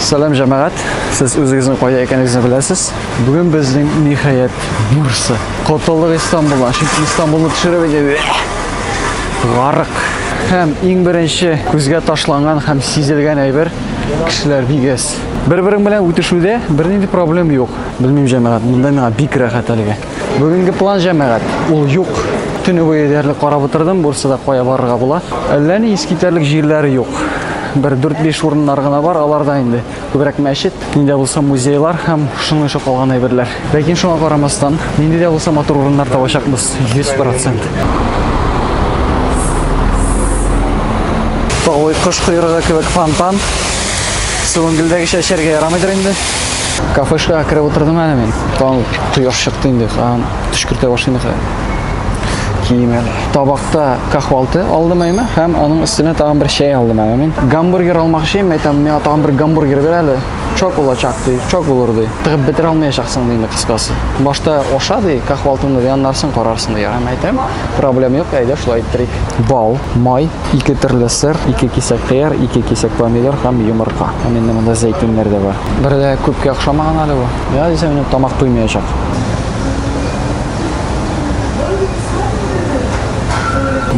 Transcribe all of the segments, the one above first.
Сәлам җәмәгать, сез үзегезнең кайда икәнегезне беләсез. Бүген безнең ниһаять Бурса. Котылык Истанбулдан, чөнки Истанбулны төшереп иде. Гарык. Һәм иң беренче күзгә ташланган һәм сизелгән әйбер кешеләр бигәс. Бер-берең белән үтешүдә бернинди проблем юк. Белмим, җәмәгать, монда миңа бик рәхәт әлегә. Бүгенге план җәмәгать, ул юк. Төне буе диярлек карап утырдым, Бурсада кая барырга була. Әллә ни искитәрлек җирләр юк. Бер 4-5 урыннар гына бар, алар да инде күбрәк мәчет, нидә булса музейлар һәм шуның өчен калган әйберләр. Ләкин шуңа карамастан, нинди дә булса матур урыннар табачакбыз, 100%. Тавый кош койрыгы кебек фонтан. Суынгелдәгечә эчәргә ярамыйдыр инде. Кафешкага кереп утырдым әле мин. Там кояш чыкты инде, хан төшкертә башлый инде. Кием әле. Табакта кахвалты алдым әйме, һәм аның өстенә тагын бер чәй алдым әле мин. Гамбургер алмакчы идем, әйтәм, миңа тагын бер гамбургер бир әле. Чок булачак ди, чок булыр ди. Тыгып бетерә алмаячаксың ди инде кыскасы. Башта аша ди, кахвалтыңны ди, аннарсын карарсың ди. Һәм әйтәм, проблем юк, әйдә шулай иттерик. Бал, май, Ике төрле сыр, ике кисәк кыяр, ике кисәк помидор һәм йомырка. Һәм инде монда зәйтүннәр дә бар. Бер дә күпкә охшамаган әле бу. Я дисәм, инде тамак туймаячак.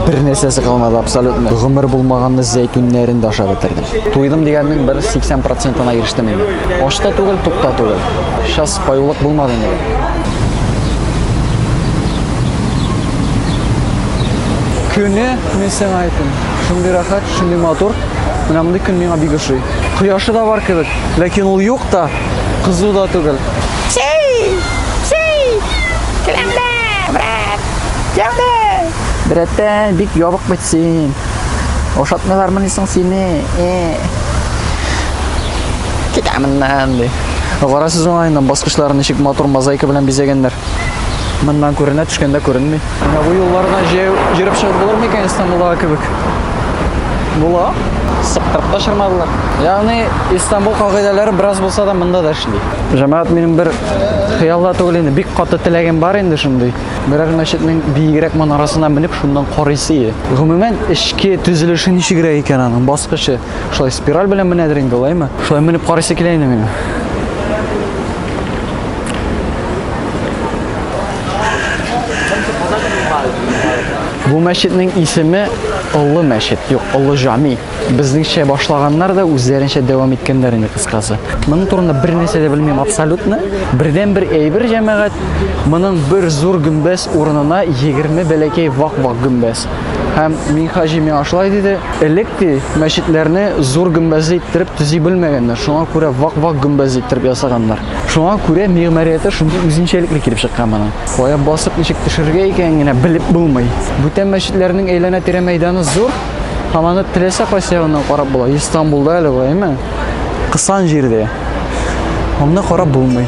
Бер нәрсәсе калмады абсолютно. Гомер булмаганны зәйтүннәрен дә ашап бетердем. Туйдым дигәннең бер 80 процентына ирештем инде. Ач та түгел, тук та түгел. Сейчас паюлык булмады инде. Күне Мин сиңа әйтим, шундый рәхәт, шундый матур. Менә мондый көн миңа бик ошый. Кояшы да бар кебек, ләкин ул юк та, кызу да түгел. Сей! Сей! Келәмдә, брат! Яуды! Брәттән, бик ябык бит син. Ошатмыйлармыни соң сине? Э. Китә моннан, ди. Карасыз уңаеннан баскычларын ничек матур мозаика белән бизәгәннәр. Моннан күренә, төшкәндә күренми. Менә бу юлларына җәяү йөреп чыгып булыр микән Истанбулдагы кебек? Була. Сыктырып та чырмадылар. Ягъни Истанбул кагыйдәләре бераз булса да монда да эшли. Җәмәгать минем бер хыялда түгел инде, бик каты теләгем бар инде шундый. Берәр мәчетнең биегрәк манарасына менеп шуннан карыйсы. Гомумән, эчке төзелеше ничегрәк икән аның баскычы? Шулай спираль белән менәдер инде алаймы? Шулай менеп карыйсы килә инде минем. Бу мәчетнең исеме Олы мәчет, юк, Олы Жами. Безнеңчә башлаганнар да үзләренчә дәвам иткәннәр инде кыскасы. Моның турында бер нәрсә дә белмим абсолютно. Бердән бер әйбер җәмәгать, моның бер зур гөмбәз урынына 20 бәләкәй вак-вак гөмбәз. Һәм Минхаҗи миңа шулай диде, элек ди мәчетләрне зур гөмбәзле иттереп төзи белмәгәннәр, шуңа күрә вак-вак гөмбәзле иттереп ясаганнар. Шуңа күрә мигъмарияте шундый үзенчәлекле килеп чыккан моның. Кая басып ничек төшергә икәнен генә белеп булмый. Бүтән мәчетләрнең әйләнә-тирә мәйданы зур, һәм аны теләсә кайсы ягыннан карап була. Истанбулда әле болай, әмма кысан җирдә аны карап булмый.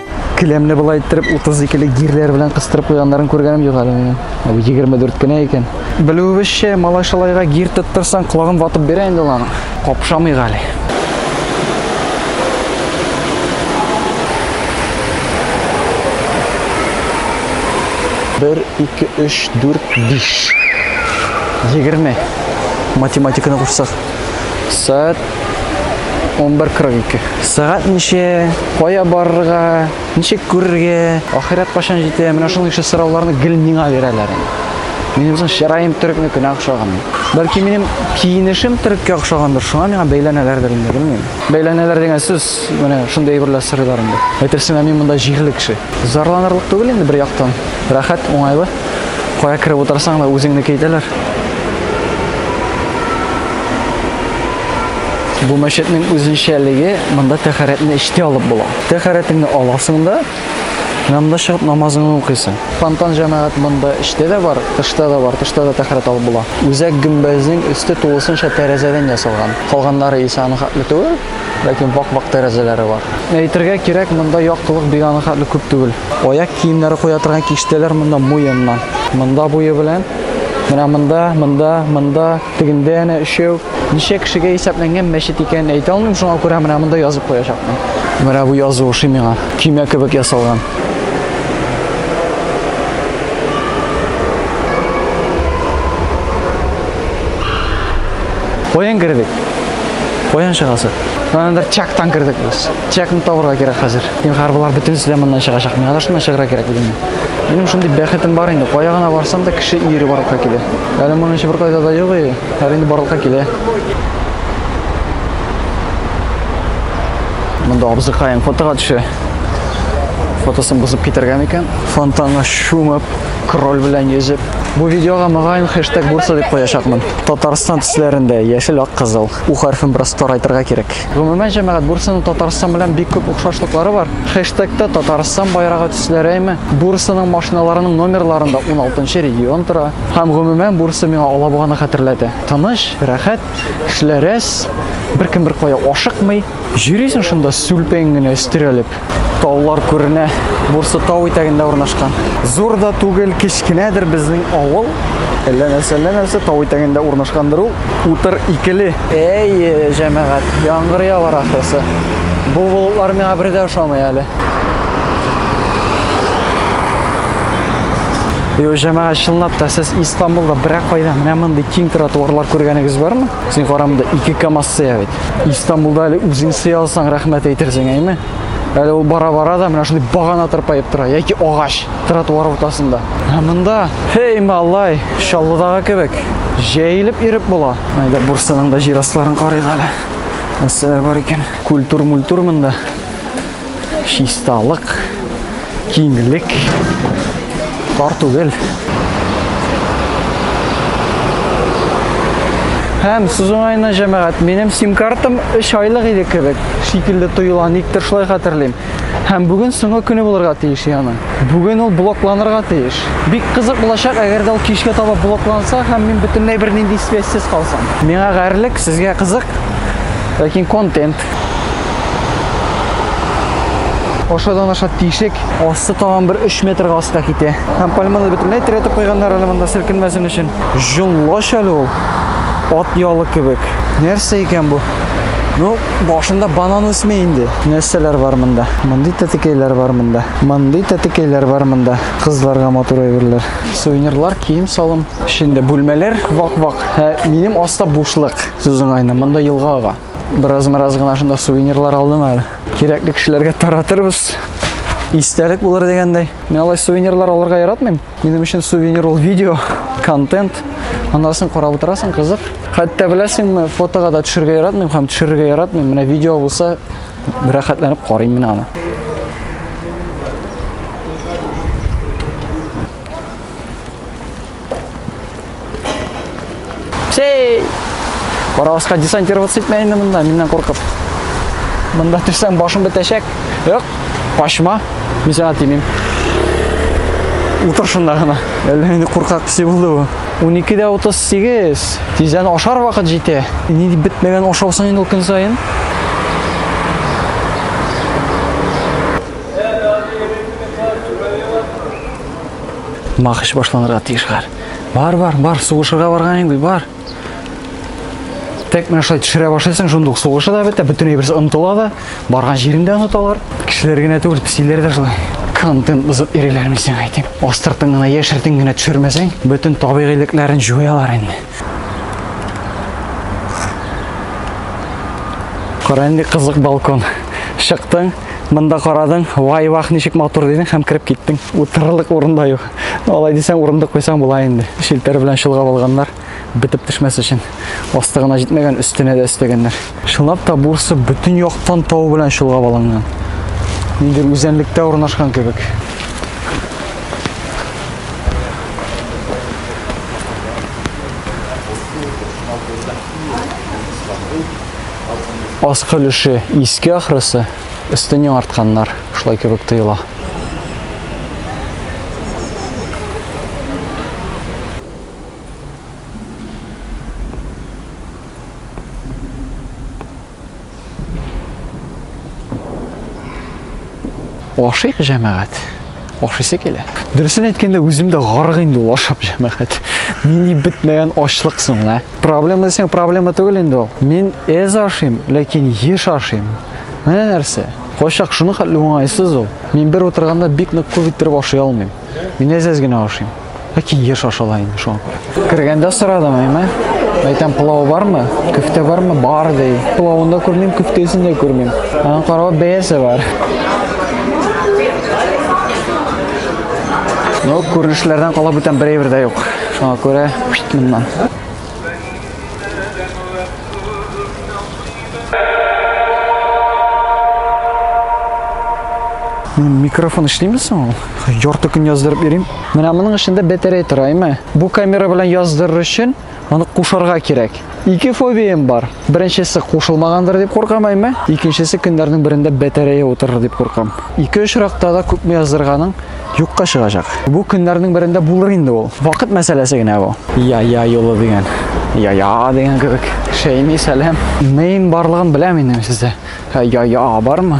Келәмне болай иттереп 32 ле гирләр белән кыстырып куйганнарын күргәнем юк әле минем. Ә бу 24 кенә икән. Белүебезчә, малайшалайга гир тоттырсаң, колагын ватып бирә инде ул аның. Капшамый гали. Бер, ике, өч, дүрт, биш. Егерме. Математиканы кушсак. Сәгать 11.42. Сәгать ничә, кая барырга, ничек күрергә, ахирәт кашан җитә, менә шундый кеше сорауларны гел миңа бирәләр. Минем соң чыраем төрекнекенә охшаган. Бәлки минем киенешем төреккә охшагандыр, шуңа миңа бәйләнәләрдер инде, белмим. Бәйләнәләр дигән сүз, менә шундый әйберләр сорыйлар инде. Әйтерсең лә мин монда җирле кеше. Зарланырлык түгел инде бер яктан. Рәхәт, уңайлы. Кая кереп утырсаң да үзеңне әйтәләр. Бу мәчетнең үзенчәлеге монда тәхәрәтне эчтә алып була. Тәхәрәтеңне аласың да, намда чыгып намазыңны укыйсың. Фонтан җәмәгать монда эчтә дә бар, тышта да бар, тышта да тәхәрәт алып була. Үзәк гөмбәзнең өсте тулысынча тәрәзәдән ясалган. Калганнары исә аның хәтле түгел. Ләкин вак-вак тәрәзәләре бар. Әйтергә кирәк, монда яктылык бик анахатлы күп түгел. Аяк киемнәре куя торган киштәләр монда муеннан. Монда буе белән. Менә монда, монда, монда, тегендә әнә өчәү. Ничә кешегә исәпләнгән мәчет икәнен әйтә алмыйм, шуңа күрә менә монда язып куячакмын. Менә бу язу ошый миңа. Көймә кебек ясалган. Каян кердек? Каян чыгасы? Андыр чактан кирдек без. Чакны табырга кирәк хәзер. Дим хәрбалар бөтенесе дә моннан чыгачак. Миңа да шуннан чыгырга кирәк бит. Минем шундый бәхетем бар инде. Кая гына барсам да кеше ире барлыкка килә. Әле моның чибер кайда да юк и. Әле инде барлыкка килә. Монда абзыкаем фотога төшә. Фотосын бозып китергән икән. Фонтанга чумып, Кроль белән йөзеп. Бу видеога мөгаен хэштег булса дип куячакмын. Татарстан төсләрендә, яшел, ак, кызыл. У хәрфен бераз тарайтырга кирәк. Гомумән, җәмәгать, Бурсаның Татарстан белән бик күп охшашлыклары бар. Хэштегта Татарстан байрагы төсләрәйме? Бурсаның машиналарының номерларында 16 регион тора. Һәм гомумән, Бурса миңа Алабуганы хәтерләтә. Тыныч, рәхәт, кешеләр әз, беркем беркая ашыкмый. Йөрисең шунда сүлпәең генә өстерәлеп. Таулар күренә. Бурсы тау итәгендә урнашкан. Зур да түгел, кечкенәдер безнең авыл. Әллә нәрсә, әллә нәрсә тау итәгендә урнашкандыр ул. Утыр икеле. Әйе, җәмәгать, яңгыр явар ахрысы. Бу болытлар миңа бер дә ошамый әле. Йо, җәмәгать, чынлап та сез Истанбулда берәк кайда менә мондый киң тротуарлар күргәнегез бармы? Син карамда ике КАМАЗ сыя бит. Истанбулда әле үзең сый алсаң, рәхмәт әйтерсең, әйме? Әле ул бара-бара да менә шундый багана тырпаеп тора, яки агач тротуар уртасында. Ә монда, хей, малай, Чаллыдагы кебек, җәелеп иреп була. Әйдә Бурсаның да җир астларын карыйк әле. Нәрсәләр бар икән? Культур-мультур монда. Чисталык, киңлек, тар түгел. Һәм сүз уңаена җәмәгать, минем сим-картам 3 айлык иде кебек, шикелле тоела, никтер шулай хәтерлим. Һәм бүген соңгы көне булырга тиеш яны. Бүген ул блокланырга тиеш. Бик кызык булачак, әгәр дә ул кичкә таба блокланса һәм мин бөтенләй бернинди связьсез калсам. Миңа гарьлек, сезгә кызык, ләкин контент. Ашадан аша тишек, асты тагын бер 3 метрга аска китә. Һәм пальманы бөтенләй терәтеп куйганнар әле монда селкенмәсен өчен. Җонлаш әле ул. Ат ялы кебек. Нәрсә икән бу? Ну, башында банан үсми инде. Нәрсәләр бар монда? Мондый тәтекәйләр бар монда. Мондый тәтекәйләр бар монда. Кызларга матур әйберләр. Сувенирлар, кием салым. Эчендә бүлмәләр вак-вак. Ә минем аста бушлык. Сүзең айны. Монда елга ага. Бераз-бераз гына шунда сувенирлар алдым әле. Кирәкле кешеләргә таратырбыз. Истәлек булыр дигәндәй. Мин алай сувенирлар алырга яратмыйм. Минем өчен сувенир ул видео, контент. Анасын карап утырасың, кызык. Хәтта беләсеңме, фотога да төшергә яратмыйм һәм төшерергә яратмыйм. Менә видео булса, рәхәтләнеп карыйм менә аны. Сей! Караваска десантироваться итмә инде монда, миннән куркып. Монда төшсәң башың бетәчәк. Юк, качма. Мин сиңа тимим. Утыр шунда гына. Әллә инде куркак төсе булды бу. 12-дә 38. Тиздән ашар вакыт җитә. Ни дип бетмәгән ашаусың инде ул көн саен? Махыш башланырга тиеш хәр. Бар, бар, бар, сугышырга барган инде, бар. Тек менә шулай төшерә башлыйсың, шунда ук сугышы да бетә, бөтенләй берсе онтыла да, барган җирен дә оныталар. Кешеләр генә түгел, псиләр дә шулай. Кантын бозып иреләр мисең әйтим. Астыртын гына яшертен генә төшермәсәң, бөтен табигыйлекләрен җуялар инде. Кара инде кызык балкон. Чыктың, монда карадың, вай вах ничек матур дидең һәм кереп киттең. Утырырлык урында юк. Алай дисәң урынды куйсаң була инде. Шелтәр белән чолгап алганнар, бетеп төшмәс өчен. Асты гына җитмәгән, өстенә дә өстәгәннәр. Чынлап та бурсы бөтен яктан тау белән чолгап алынган. Нидер үзәнлектә урнашкан кебек. Аскы өлеше иске ахрысы, өстен яңартканнар, шулай кебек тоела. Ашыйк җәмәгать. Ашыйсы килә. Дөресен әйткәндә, үзем дә гарык инде ул ашап җәмәгать. Нинди бетмәгән ачлык соң, ә? Проблема дисәң, проблема түгел инде ул. Мин әз ашыйм, ләкин еш ашыйм. Менә нәрсә. Кайчак шуны хәтле уңайсыз ул. Мин бер утырганда бик нык күп иттереп ашый алмыйм. Мин әз-әз генә ашыйм. Ләкин еш ашала инде шуңа күрә. Кергәндә сорадым, әйме? Әйтәм, пылау бармы? Көфтә бармы? Бар ди. Пылавын да күрмим, көфтәсен дә күрмим. Аның каравы бәясе бар. Ну, күренешләрдән кала бүтән бер әйбер дә юк. Шуңа күрә, моннан. Микрофон эшлиме соң ул? Ярты көн яздырып йөрим. Менә моның эчендә батарея тора, әйме? Бу камера белән яздырыр өчен аны кушарга кирәк. Ике фобиям бар. Беренчесе кушылмагандыр дип куркам, әйме? Икенчесе көннәрнең берендә батарея утырыр дип куркам. Ике очракта да күпме яздырганың юкка чыгачак. Бу көннәрнең берендә булыр инде ул. Вакыт мәсьәләсе генә бу. Я я юлы дигән. Я я дигән кебек. Шәйми сәлам. Нейн барлыгын беләм инде сездә. Я я бармы?